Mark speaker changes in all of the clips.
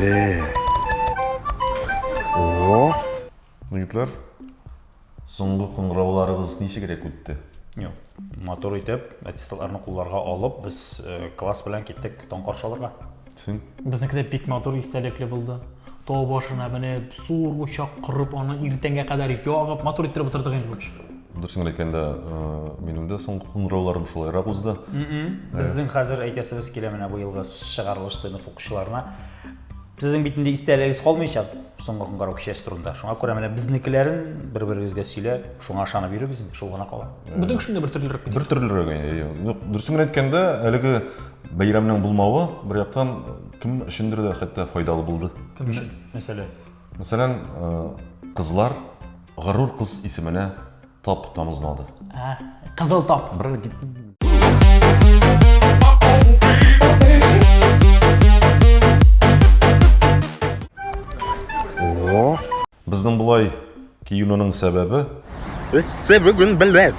Speaker 1: Ee. Oo. Егетләр, соңгы кыңгырауларыгыз ничегрәк үтте? Юк. Матур итеп, аттестатларны кулларга алып, без э, класс белән киттек таң каршы алырга. Син? Безнеке дә бик матур истәлекле булды. Тау башына менеп, зур учак корып, аны иртәнгә кадәр ягып, матур иттереп утырдык инде, в общем. Дөресен әйткәндә, минем дә соңгы куңрауларым шулайрак узды. Безнең хәзер әйтәсебез килә менә бу елгы чыгарылыш сыйныф укучыларына. Сезнең бит инде истәлегегез калмыйча соңгы куңгарау кичәсе турында. Шуңа күрә менә безнекеләрен бер-берегезгә сөйлә, шуңа ышанып йөрегез, шул гына кала. Бүтән кешенең дә бер төрлерәк бит. Бер төрлерәк, әйе. Юк, дөресен генә әйткәндә, әлеге бәйрәмнең булмавы бер яктан кем өчендер дә хәтта файдалы булды. Кем өчен? Мәсәлән? Мәсәлән, кызлар Горур кыз исеменә тап тамызмады. Ә, Кызыл тап. Брат, кит. Безнең болай киюнең сәбәбе Эссе бүген беләк.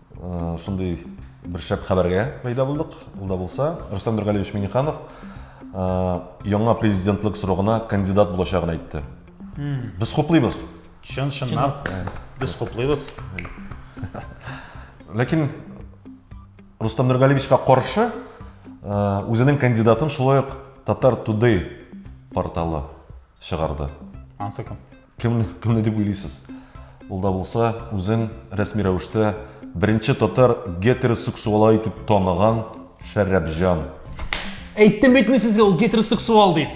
Speaker 1: Шундый бер шәп хәбәргә пәйда булдык. Ул да булса, Рөстәм Нургалиевич Миниханов яңа президентлык срогына кандидат булачагын әйтте. Без хуплыйбыз. Чын чынлап без хуплыйбыз. Ләкин Рустам Нургалиевичка каршы үзенең кандидатын шулай ук Татар Today порталы чыгарды. Ансы кем? Кемне, кемне дип уйлыйсыз? Ул да булса, үзен рәсми рәвештә беренче татар гетеросексуалы итеп таныган Шәрәпҗан. Әйттем бит мин сезгә ул гетеросексуал дип.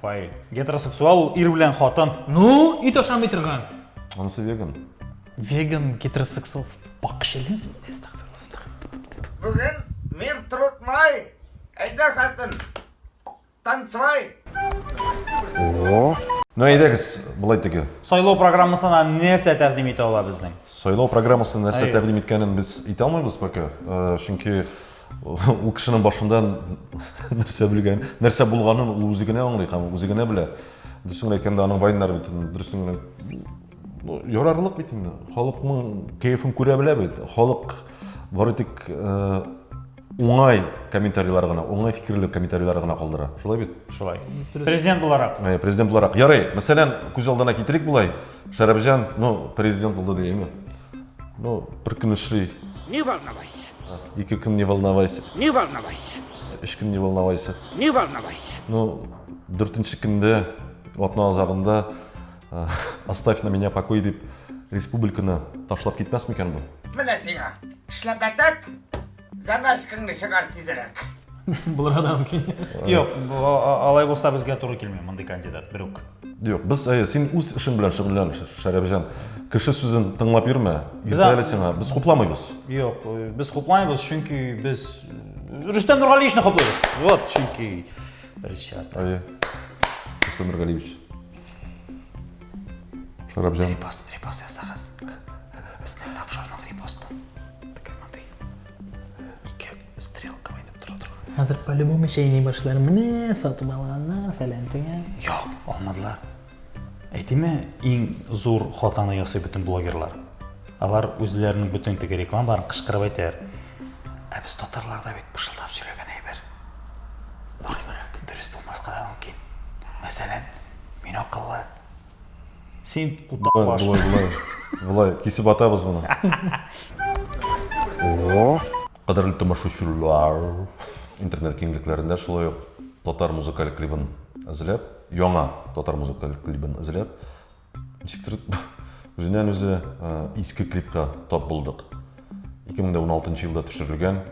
Speaker 1: Фаил. Гетеросексуал ул ир белән хатын. Ну, ит ашамый торган. Анысы веган. Веган, гетеросексуал. Бакчылы үзем. Бүген мир трудмай. Әйдә, хатын. Танцевай! О! Ну әйдәгез, былай теге. Сайлау программасына нәрсә тәкъдим итә ала безнең? Сайлау программасы нәрсә тәкъдим иткәнен без әйтә алмыйбыз пока. Э, чөнки ул кешенең башында нәрсә белгән, нәрсә булганын ул үзе генә аңлый һәм үзе генә белә. Дөресен әйткәндә, аның вайннары бит дөресен генә ну, ярарлык бит инде. Халыкның кәефен күрә белә бит. Халык бары тик э, уңай комментарийлар гына, уңай фикерле комментарийлар гына калдыра. Шулай бит? Шулай. Президент буларак. Э, президент буларак. Ярый, мәсәлән, күз алдына китерик булай. Шәрәбҗан, ну, президент булды дигәнме? Ну, бер көн эшли. Не волновайся. Ике көн не волновайся. Не волновайся. Өч көн не волновайся. Не волновайся. Ну, дүртенче көндә, атна азагында Оставь на меня покой дип республиканы ташлап китмәс микән бу? Менә сиңа. Эшләп бәтәк, заначкаңны чыгар тизрәк. Булырга да мөмкин. Юк, алай булса безгә туры килми мондый кандидат берүк. Юк, без э, син үз эшең белән шөгыльлән, Шәрәпҗан. Кеше сүзен тыңлап йөрмә. Иртә әле сиңа. Без хупламыйбыз. Юк, э, без хупламыйбыз, чөнки без э, Рөстәм Нургалиевичны хуплыйбыз. Вот, чөнки Ричард. Әйе. Рөстәм Нургалиевич. Шарапҗан. Репост, репост ясагыз. Безнең тапшырның репосты. Тик мондый. Ике стрелка әйтеп тора торган. Хәзер по-любому чәйни башлар. Менә сатып алганнар фәлән тиңә. Юк, алмадылар. Әйтеме, иң зур хатаны ясый бөтен блогерлар. Алар үзләренең бөтен теге рекламаларын кычкырып әйтәләр. Ә без татарларда бит пышылдап сөйләгән әйбер. Мөмкинрәк. Дөрес булмаска да мөмкин. Мәсәлән, мин акыллы. Син кутак баш. Болай, болай, болай. Кисеп атабыз моны. О! Кадерле тамашачылар. Интернет киңлекләрендә шулай ук татар музыкаль клибын әзерләп, яңа татар музыкаль клибын әзерләп, Ничектер үзеннән үзе иске клипка тап булдык. 2016 елда төшерелгән.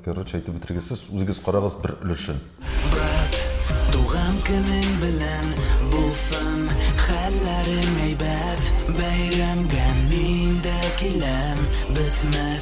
Speaker 1: Короче, әйтеп бетергесез, үзегез карагыз бер өлешен. Брат, туган көнең белән булсын, хәлләрең әйбәт, бәйрәмгә мин дә киләм, бетмәс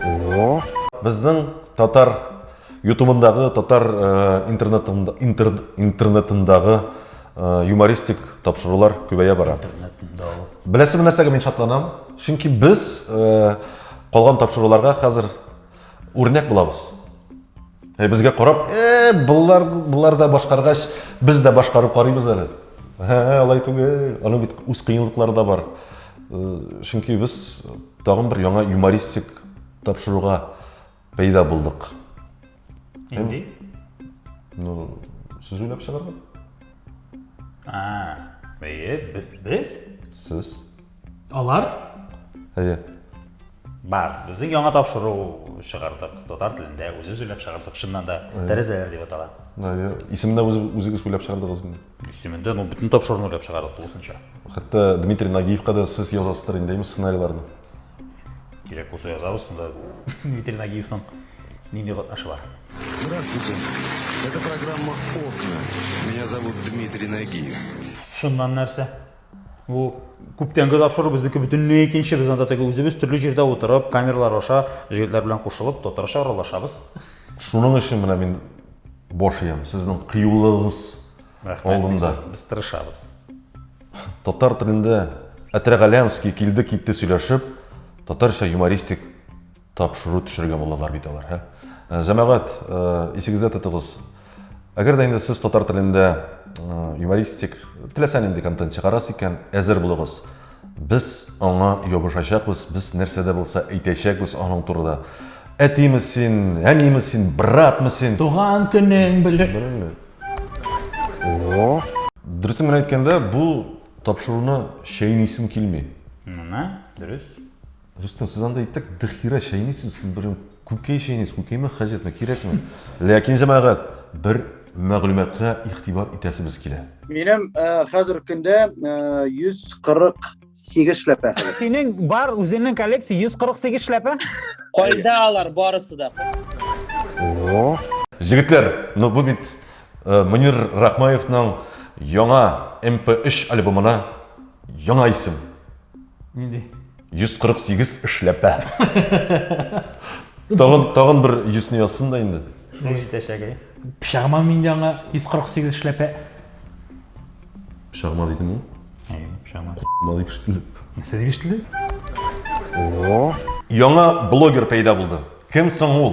Speaker 1: О, безнең татар ютубындагы татар э, интернетында интер, интернетындагы э, юмористик тапшырулар күбәя бара интернетындагы беләсеңме нәрсәгә мин шатланам чөнки без э, калган тапшыруларга хәзер Үрнәк булабыз. Ә безгә карап, э, булар, булар да башкаргач, без дә башкарып карыйбыз әле. Һә, алай түгел. Аның бит үз кыенлыклары да бар. Чөнки без тагын бер яңа юмористик тапшыруга пәйда булдык. Нинди? Ну, сез уйлап чыгарган. А, без? Сез? Алар? Әйе. Бар, безнең яңа тапшыру чыгардык, татар телендә, үзебез уйлап чыгардык, чыннан да, тәрәзәләр дип атала. Әйе. Исемендә үзегез уйлап чыгардыгыз инде. Исемендә, ну, бөтен тапшыруны уйлап чыгардык, тулысынча. Хәтта Дмитрий Нагиевка да сез язасыздыр инде, әйме, сценарийларны? Кирәк булса язабыз, монда Дмитрий Нагиевның нинди катнашы бар? Здравствуйте. Это программа «Окна». Меня зовут Дмитрий Нагиев. Шуннан нәрсә? Бу күптәнге тапшыру безнеке бөтенләй икенче. Без анда теге үзебез төрле җирдә утырып, камералар аша җегетләр белән кушылып, татарча аралашабыз. Шуның өчен менә мин баш иям, сезнең кыюлыгыгыз алдында. Без тырышабыз. Татар телендә Әтрәгаләмский килде-китте сөйләшеп, татарча юмористик Тапшыру төшерергә булалар бит алар, һә? Э, җәмәгать, э, исегездә тотыгыз. Әгәр дә инде сез татар телендә э, юмористик, теләсә нинди контент чыгарасыз икән, әзер булыгыз. Без аңа ябышачакбыз, без нәрсә дә булса әйтәчәкбез аның турында. Әтиме син, әниме син, братмы син? Туган көнең белер. О! Дөресен генә әйткәндә, бу тапшыруны чәйнисем килми. Менә, дөрес. Рөстәм, сез анда итек дыхира чәйнисез, сез бер күкәй чәйнисез, күкәймә хаҗәтме, кирәкме? Ләкин, җәмәгать, бер мәгълүматка игътибар итәсебез килә. Минем хәзерге көндә 148 эшләпә. Синең бар үзеңнең коллекция 148 эшләпә? Кайда алар барысы да? Җегетләр, ну бу бит Мөнир Рахмаевның яңа MP3 альбомына яңа исем. Нинди? 148 эшләпә. Тагын, тагын бер йөзне язсын да инде. Шуның җитәчәге. Пычагыма мин дә аңа 148 эшләпә. Пычагыма дидем ул. Әйе, пычагыма. Ма дип ишетелде. Нәрсә дип ишетелде? Яңа блогер пәйда булды. Кем соң ул?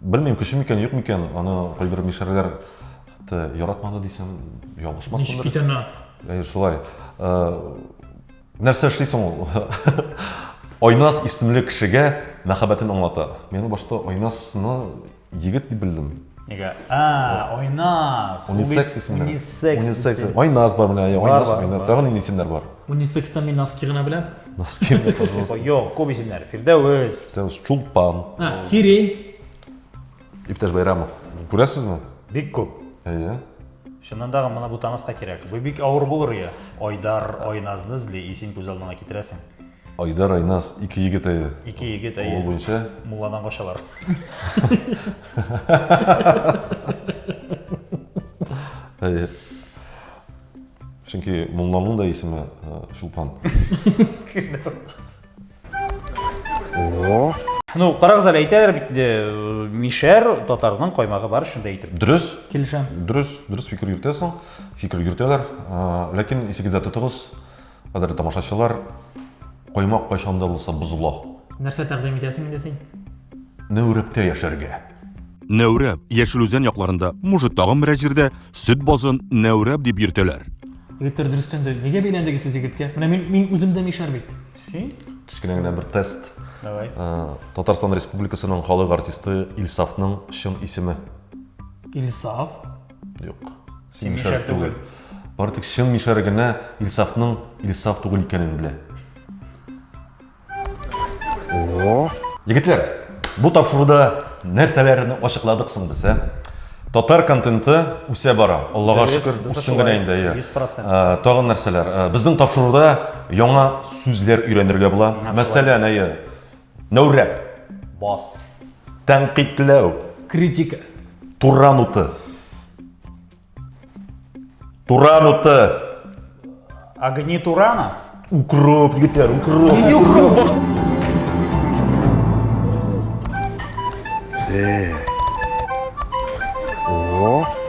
Speaker 1: Белмим, кеше микән, юк микән, аны кайбер мишәрләр хәтта яратмады дисәм, ялгышмас Ничек бит ана? Әй, шулай. Нәрсә эшли соң ул? Айнас исемле кешегә мәхәббәтен аңлата. Мин башта Айнасны егет дип белдем. Нигә? А, Айнас. Унисекс исемле. Унисекс. Айнас бар менә, Айнас, Айнас. Тагын нинди исемнәр бар? Унисекста мин носки гына беләм. Носки мне, пожалуйста. Юк, күп исемнәр. Фирдәвес. Тәвис Чулпан. А, Сирень. Иптәш Байрамов. Күрәсезме? Бик күп. Әйе. Шуннан тагын моны бутамаска кирәк. Бу бик авыр булыр ия. Айдар, Айназны эзли, исем күз алдыңа китерәсең. Айдар Айназ, ике егет әйе. Ике егет Ул әйе. буенча Мулладан качалар. әйе. Чөнки Мулланың да исеме э, Чулпан. Ну, карагыз әле әйтәләр бит, э, мишәр татарның каймагы бар шунда әйтеп. Дөрес, Килешәм. дөрес, дөрес фикер йөртәсең, фикер йөртәләр. Э, Ләкин исегездә тотыгыз, Кадерле тамашачылар, каймак кайчан да булса бозыла. Нәрсә тәкъдим итәсең инде син? Нәүрәптә яшәргә. Нәүрәп, Яшел Үзән якларында, может, тагын берәр җирдә, сөт базын Нәүрәп дип йөртәләр. Егетләр дөрестән дә, нигә бәйләндегез сез егеткә? Менә мин, мин үзем дә мишәр бит. Син? Кечкенә генә бер тест. Давай. Татарстан Республикасының халык артисты Илсафның чын исеме. Илсаф? Юк. Син мишәр түгел. Бары тик чын мишәр генә Илсафның Илсаф түгел икәнен белә. О! Егетләр, бу тапшыруда нәрсәләрне ачыкладык соң без, ә? Татар контенты үсә бара. Аллага шөкер, үсү генә инде. 100%. Тагын нәрсәләр? Безнең тапшыруда яңа сүзләр өйрәнергә була. Мәсәлән, әйе. Нәүрәп. Бас. Тәнкыйтьләү. Критика. Туран уты. Туран уты. Огни Турана. Укроп, егетләр, укроп. Нигә укроп баш? Э. О.